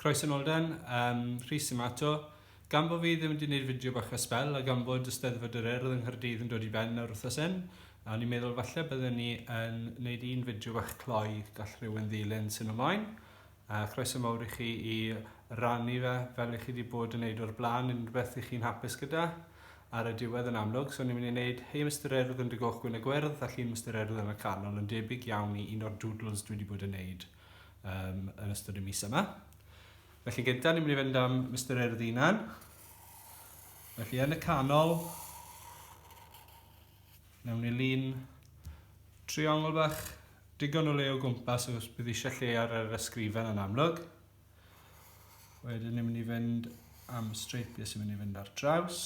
Croeso nôl Dan, um, Rhys yma eto. Gan bod fi ddim wedi gwneud fideo bach a spel a gan bod y Steddfod yr Urdd yng Nghaerdydd yn dod i ben nawr wrthos hyn, a ni'n meddwl falle byddwn ni yn gwneud un fideo bach cloi gall rhywun ddilyn sy'n ymlaen. A croeso mawr i chi i rannu fe fel i chi wedi bod yn neud o'r blaen yn rhywbeth i chi'n hapus gyda. ar y diwedd yn amlwg, so ni'n mynd i wneud Hey Mister Urdd yn dy goch gwyn a gwyrdd a Llun Mister Urdd yn y canol yn debyg iawn i un o'r doodles dwi wedi bod yn wneud um, yn ystod y mis yma. Felly gyntaf ni'n mynd i fynd am Mister Urdd unan. Felly yn y canol, nawn ni lun triongl bach digon o le o gwmpas os bydd eisiau lle ar yr ysgrifen yn amlwg. Wedyn ni'n mynd i fynd am y streipiau sy'n mynd i fynd ar draws.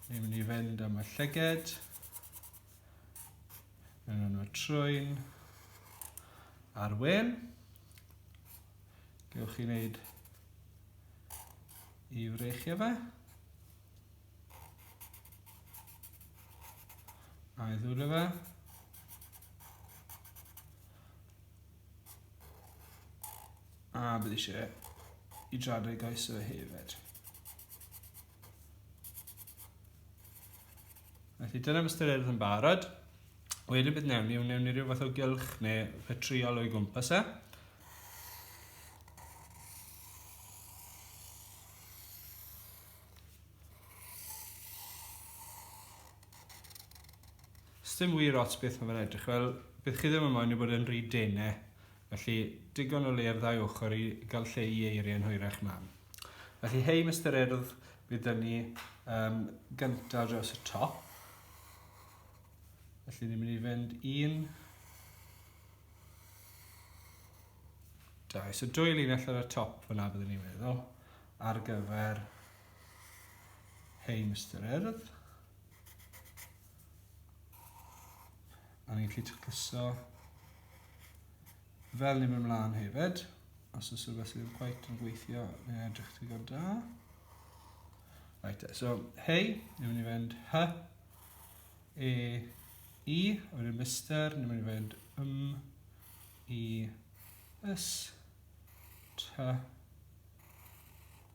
Ni'n mynd i fynd am y llyged. Ni'n mynd am y trwyn. A'r wen. Gewch chi wneud i wreichio fe. A'i ddwylio fe. A bydd eisiau i dradau gais o hefyd. Felly dyna fy styried yn barod. Wedyn bydd newn ni, newn ni rhyw fath o gylch neu rhetriol o'i gwmpas e. Sdim wir ots beth mae fe'n edrych fel, bydd chi ddim yn moyn e bod e'n rhy dene, felly digon o le ar ddau ochr i gael lle i eiriau yn hwyrach mam. Felly hei Mister Urdd, bydd dyn ni um, gyntaf dros y top. Felly ni'n mynd i fynd un, dau, so dwy linell ar y top fyna byddwn ni'n meddwl ar gyfer hei Mister Urdd. A ni'n gallu tacluso fel ni'n mynd mlaen hefyd. Os oes rhywbeth sydd yn gwaith yn gweithio, neu edrych ti gan da. Right, so, hei, ni'n mynd i fynd hy, e, i, a wedyn mister, ni'n mynd i fynd ym, i, ys, ty,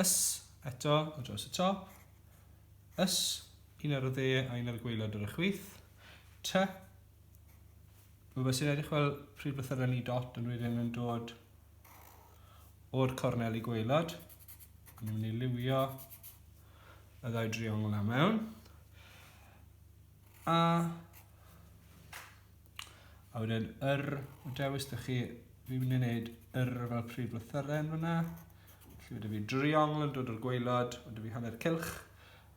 Ys, eto, o draws y top. Ys, un ar y dde a un ar y gweilod ar y chwith. T. Mae fe sy'n edrych fel pryd beth yr ni dot yn wedyn yn dod o'r cornel i gweilod. Ni'n mynd i liwio y ddau driongl na mewn. A A wedyn yr, o dewis dych chi, fi'n mynd i wneud yr fel prif lythyren fyna. Felly wedi fi driongl yn dod o'r gweilod, wedi fi hanner cilch,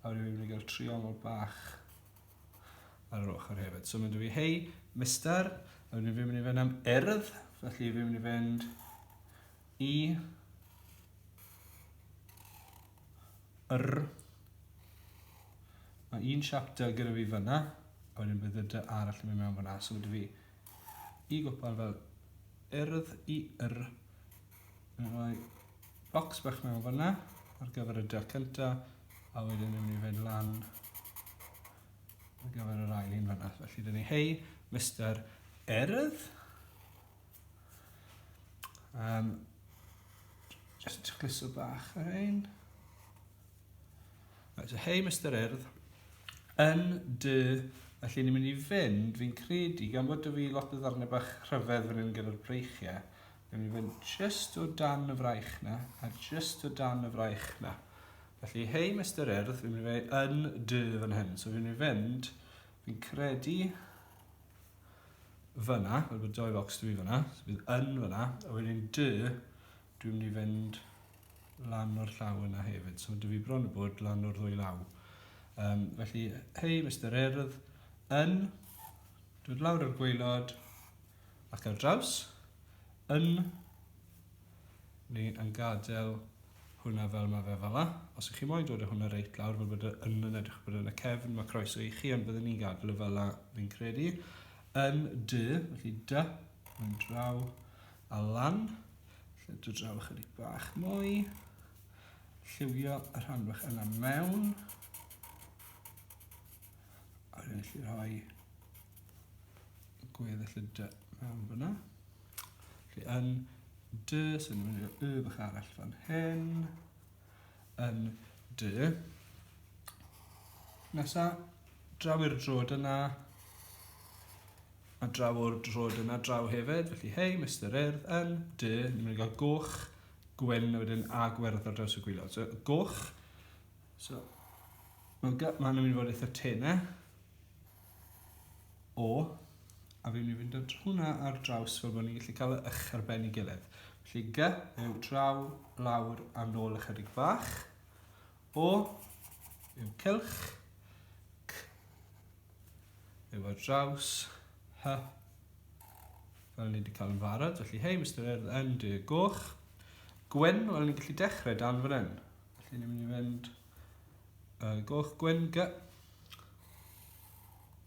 a wedi fi'n mynd i gael triongl bach ar yr ochr hefyd. So mynd i fi hei, mister, a wedyn fi'n mynd i fynd am urdd, felly fi'n mynd i fynd i yr Mae un siap dy gyda fi fyna, a wedyn bydd y dy arall yn mynd mewn fyna. So gyda fi i gwpan fel yrdd i yr. Mae'n rhoi bocs bach mewn fyna ar gyfer y dy cynta, a wedyn yn mynd i fynd lan ar gyfer yr ail un fyna. Felly dyn ni hei, Mr Yrdd. Um, just chliso bach ar ein. Right, so hei Mr Urdd, yn dy Felly ni'n mynd i fynd, fi'n credu, gan bod y fi lot o ddarnau bach rhyfedd fan hyn gyda'r breichiau, ni'n mynd i fynd just o dan y fraich na, a just o dan y fraich na. Felly, hei Mr Earth, fi'n mynd i fynd yn dy fan hyn. So fi'n mynd i fynd, fi'n credu, fyna, fel bod doi focs dwi fyna, so bydd yn fyna, a wedyn dy, dwi'n mynd i fynd lan o'r llaw yna hefyd, so dy fi bron y bod lan o'r ddwy law. Um, felly, hei, Mr Erdd, yn, dod lawr o'r gweilod, ac ar draws, yn, ni yn gadael hwnna fel mae fe fela. Os ych chi moyn dod â hwnna reit lawr fel bod e yn yn edrych bod yn y cefn, mae croeso i chi, ond byddwn ni'n gadael y fela, fi'n credu. Yn dy, felly dy, yn draw a lan. Felly dy draw ychydig bach mwy. Lliwio y rhan bach yna mewn. A rwy'n gallu rhoi gweddill y dy mewn fyna. Felly yn dy, so ni'n mynd i'r y bach arall fan hyn. Yn dy. Nesa, draw i'r drod yna. A draw o'r drod yna, draw hefyd. Felly, hei, Mr Urdd, yn dy, ni'n mynd i gael goch, gwyn, a wedyn a gwerth ar draws y gwylod. So, goch. So, mae'n mynd i fod eitha tenau. O, a fi'n mynd i fynd at hwnna ar draws fel bod ni'n gallu cael y ych ar ben i gilydd. Felly gy yw draw, lawr a nôl ychydig bach. O yw cylch. C yw ar draws. Hy. Fel ni wedi cael yn farod. Felly hei, Mr Urdd, yn dy goch. Gwen, wel ni'n gallu dechrau dan fan hyn. Felly ni'n mynd i fynd Uh, goch gwen ga.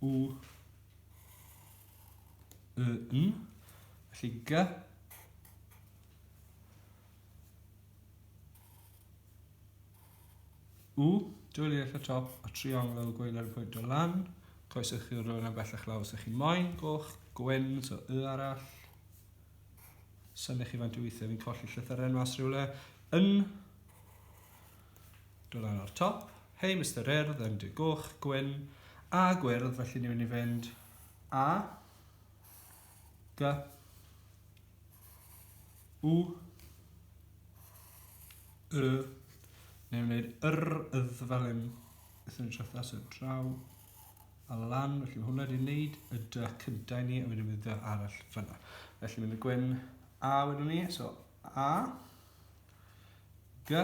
U. Y, n. Felly ga. U. Dwyli eich y top a triongl gweiler y pwynt o lan. Coeswch chi rhywun am bellach lawr sy'ch chi'n moyn. Goch gwen, so y arall. Symych chi faint o weithiau fi'n colli llythyren mas rhywle. Yn. Dod lan o'r top. Hei Mister Urdd yn dy goch, gwyn a gwyrdd felly ni'n mynd i fynd A G U Y Ni'n gwneud yr ydd fel hyn Ithon ni'n trethu at draw a lan felly mae hwnna wedi wneud y dy cyntaf i ni a wedyn bydd dy arall fyna. Felly mynd y gwyn A wedwn ni so A G,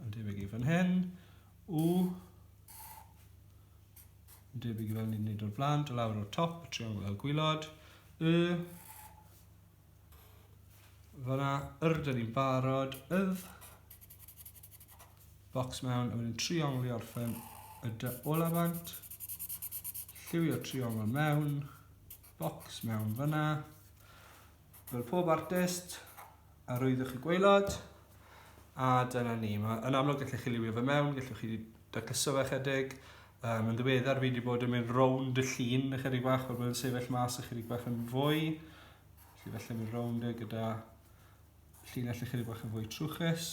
yn debyg i fan hyn. U, yn debyg i fel ni'n gwneud o'r blaen, do lawr o'r top, y triongl fel gwylod. Y, fyna, yr, dyn ni'n barod, ydd, box mewn, a wedyn triongl i orffen y dy ola bant, lliwio triongl mewn, box mewn fyna, Fel pob artist, arwyddoch chi gwaelod, a dyna ni. Mae, yn amlwg gallech chi liwio fe mewn, gallwch chi dacluso fe chydig. Um, yn ddiweddar fi wedi bod yn mynd rownd y llun ychydig bach, fel bod yn sefyll mas ychydig bach yn fwy. Felly felly mynd rownd e gyda llinell ychydig bach yn fwy trwchus.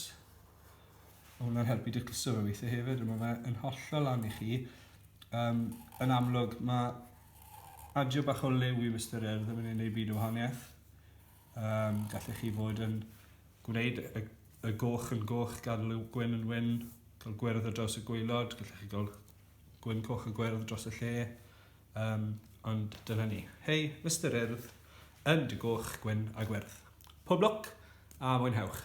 Mae hwnna'n helpu dacluso fe weithiau hefyd, a mae fe yn hollol lan i chi. Um, yn amlwg, mae Adio bach o liw i Mister Air ddim yn ei wneud byd o wahaniaeth. Um, gallech chi fod yn gwneud y, y goch yn goch, gadw liw gwyn yn wyn, cael gwyrdd o dros y gweilod, gallech chi gael gwyn coch a gwyrdd dros y lle. Um, ond dyna ni. Hei, Mister Urdd, yn dy goch, gwyn a gwyrdd. Pob lwc a mwynhewch!